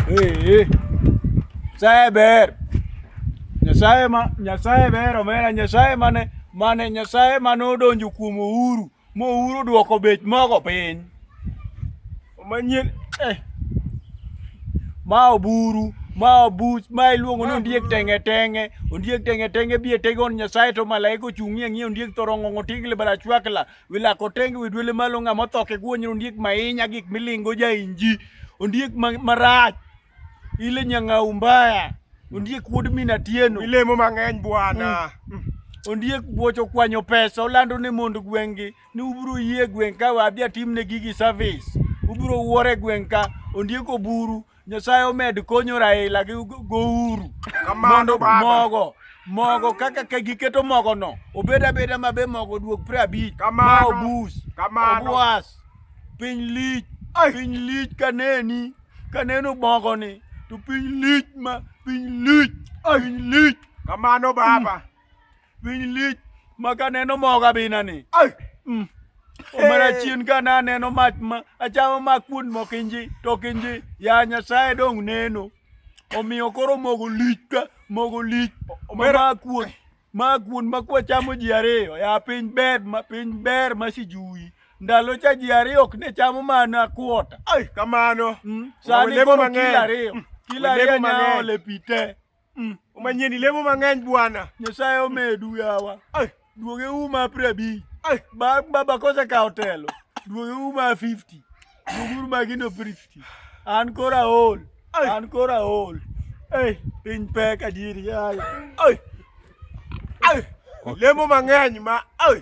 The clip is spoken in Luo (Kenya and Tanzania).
Hey, Nyasaye ber. Nyasaye ma Nyasaye ber omera Nyasaye mane mane Nyasaye mane odonjo kuom Uhuru ma Uhuru dwoko bech mogo piny. Manyien eh. Ma oburu ma obuch ma iluongo ni ondiek tenge tenge ondiek tenge tenge bie tegon Nyasaye to malaika ochung'ie ng'iyo ondiek thorongo tigle bala chwakla Wilako tenge widwele malo ng'a motho ke guonyo ondiek mahinya gik milingo ja inji ondiek marach ile nyanga umbaya ondiek wuod mina tieno ilemo mang'eny bwana mm. mm. ondiek buocho kwanyo pesa olando ne mond gweng'gi ni ubiro yie gweng' ka wadhi atimne gigi service ubiro wuore gweng' ka ondiek oburu Nyasaye omed konyo Raila gi gouru mondo mogo mogo kaka ka giketo mogo no obed abeda mabe mogo duok pre abich ma obus obwas piny lich piny lich kaneni kaneno mogo ni to piny lich ma piny lich piny lich kamano baba Piny lich ma kaneno mogo abina ni. Ai. Mm. Omera Hey. chien ka naneno mach ma achamo mak kuon mokinji to kinji ya Nyasaye dong neno. Omiyo koro mogo lich ka mogo lich Omera- ma kuon ma kuon ma kwachamo ji ariyo ya piny ber ma piny ber ma sijuyi. Ndalo cha ji ariyo ok ne chamo mana kuota. Ai kamano. Mm. Sani Olemo koro mang'eny. kilo ariyo. Mm. Kilo Olemo ariyo mang'eny. nyaole pite. Mm. Umanyie ni lemo mang'eny bwana. Nyasaye omedu yawa. Ai, duoge uma prebi. Ai, ba baba kose ka otelo. Duoge uma 50. Duoge uma gino 50. An kora ol. Ai. An kora ol. Ai, piny pek adieri yawa. Ai. Ai. Lemo mang'eny ma. Ai.